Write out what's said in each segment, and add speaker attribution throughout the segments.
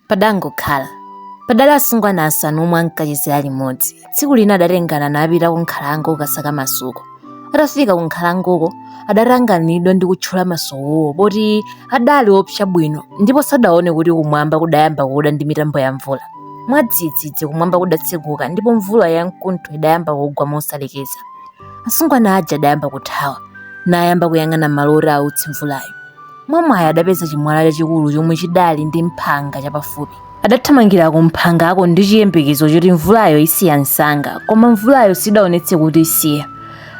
Speaker 1: Padangokhala. Padali asungwana asanu omwe ankachezera limodzi. Tsiku lina adatengana napita ku nkhalango kukasaka masuko. Atafika ku nkhalangoko, adatanganidwa ndi kutchula masukowo poti adali opsa bwino ndipo sadaone kuti kumwamba kudayamba kuda ndi mitambo ya mvula. Mwadzidzidzi kumwamba kudatseguka ndipo mvula ya mkuntho idayamba kugwa mosalekeza. Asungwana aja adayamba kuthawa, nayamba kuyang'ana malo oti ause mvulayo. Mwamwayi adapeza chimwala chachikulu chomwe chidali ndi mphanga chapafupi. Adathamangira kumphangako ndi chiyembekezo choti mvulayo isiya msanga, koma mvulayo sidaonetse kuti isiya.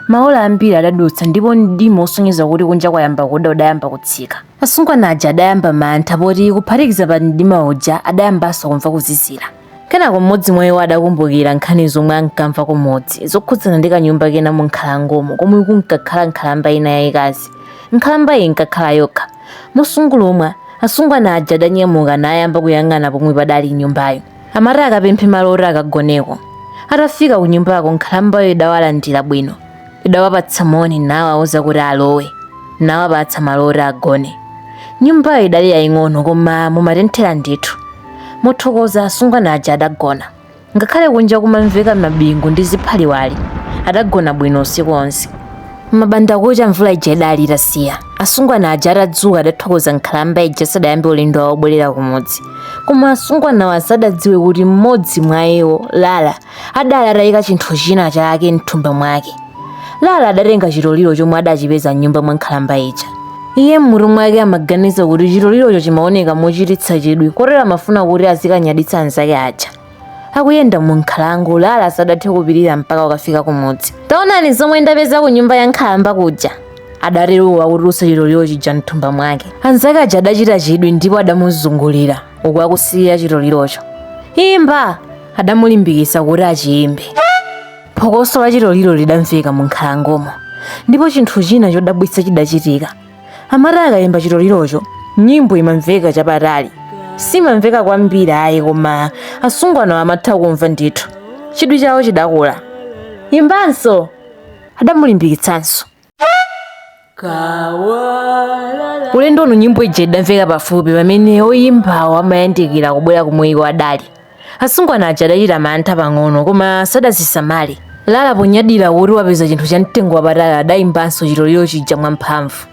Speaker 1: Maola ambiri adadutsa ndipo mdima wosonyeza kuti kunja kwayamba kuda udayamba kutsika. Asungwana aja adayamba mantha poti kuphatikiza pa mdima uja adayambanso kumva kuzizira. kenako mmodzi mwa iwo adakumbukira nkhani zomwe ankamva kumudzi zokhudzana ndi kanyumba kena mu nkhalangomo komwe kunkakhala nkhalamba ina yayikazi nkhalamba iyi inkakhala yokha mosungulumwa asungwana aja adanyamuka nayamba kuyang'ana pomwe padali nyumbayo amati akapemphe malo oti akagoneko atafika ku nyumbako nkhalambayo idawalandira bwino idawapatsa moni nawauza kuti alowe nawapatsa malo oti agone nyumbayo idali yaying'ono koma mumatenthera ndithu mothokoza asungwana aja adagona ngakhale kunja kumamveka mabingu ndi ziphaliwali adagona bwino usiku onse mabanda kucha mvula ija idali itasiya asungwana aja atadzuka adathokoza nkhalamba ija asadayambe ulendo wawo obwerera kumudzi koma asungwanawo sadadziwe kuti mmodzi mwa iwo lala adali ataika chinthu china chake mthumba mwake lala adatenga chitoliro chomwe adachipeza mnyumba mwa nkhalamba ija iye m'mutu mwake amaganiza kuti chitolirocho chimaoneka mochititsa chidwi kotero amafuna kuti azikanyaditsa anzake aja akuyenda mu nkhalango lala sadathe kupirira mpaka akafike kumudzi taonani zomwe ndapeza ku nyumba ya nkhalamba kuja adatero akutulutsa chitoliro chija mthumba mwake anzake aja adachita chidwi ndipo adamuzungulira uku akusirira chitolirocho imba adamulimbikitsa kuti achiyimbe. Phokoso la chitoliro lidamveka mu nkhalangomo, ndipo chinthu china chodabwitsa chidachitika. Amati akayimba chitolirocho, nyimbo imamveka chapatali. Simamveka kwambiri ayi koma asungwanawo amatha kumva ndithu. Chidwi chawo chidakula. Imbanso! Adamulimbikitsanso. ulendo uno nyimbo ija idamveka pafupi pamene oyimbawo amayandikira kubwera komwe iwo adali asungwana aja adachita mantha pang'ono koma sadazisamale lala ponyadira kuti wapeza chinthu cha mtengo wapatali adayimbanso chitoliro chija mwamphamvu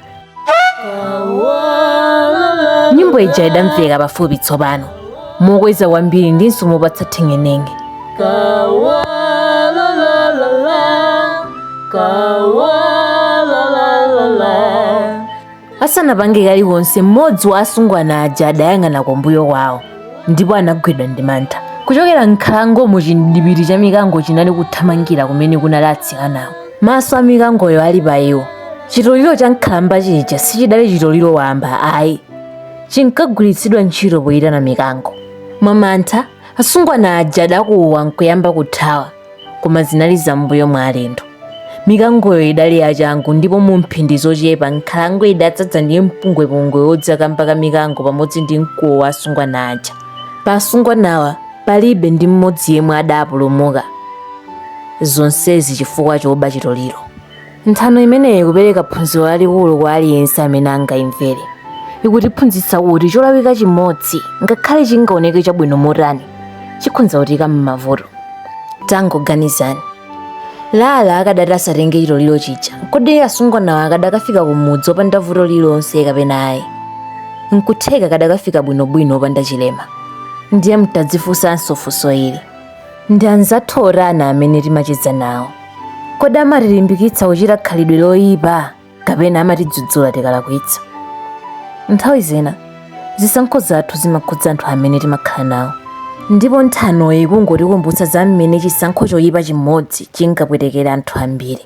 Speaker 1: nyimbo ija idamveka pafupi tsopano mokweza kwambiri ndinso mopatsa theng'eneng'e asanapange kalikonse mmodzi wa asungwana aja adayang'ana kumbuyo kwawo ndipo anagwidwa ndi mantha kuchokera m'nkhalangomo chindipiti cha mikango chinali kuthamangira kumene kunali atsikanawo maso a mikangoyo ali pa iwo chitoliro cha nkhalamba chija sichidali chitoliro wamba ayi chinkagwiritsidwa ntchito poyitana mikango. Mwamantha, asungwana aja adakuwa nkuyamba kuthawa, koma zinali zam'mbuyo mwa alendo. Mikangoyo idali yachangu ndipo mu mphindi zochepa nkhalango idadzadza ndi mpungwepungwe wodza kamba ka mikango pamodzi ndi mkuwo wa asungwana aja. Pa asungwanawa palibe ndi mmodzi yemwe adapulumuka, zonsezi chifukwa chooba chitoliro. nthano imeneyi ikupereka phunziro lalikulu kwa aliyense amene angayimvere ikutiphunzitsa kuti cholakwika chimodzi ngakhale chingaoneke chabwino motani chikhonza kutiika m'mavuto tangoganizani lala akadati asatenge chitoliro chija kodi asungwanawo akadakafika kumudzi opanda vuto lililonse kapena ayi nkutheka akadakafika bwinobwino opanda chilema ndiye mutadzifunsanso funso ili ndi anzathu otani amene timacheza nawo kodi amatilimbikitsa kuchita khalidwe loyipa kapena amatidzudzula tikalakwitsa nthawi zina zisankho zathu zimakhudza anthu amene timakhala nawo ndipo nthanoyi ikungotikumbutsa za mmene chisankho choyipa chimodzi chingapwetekere anthu ambiri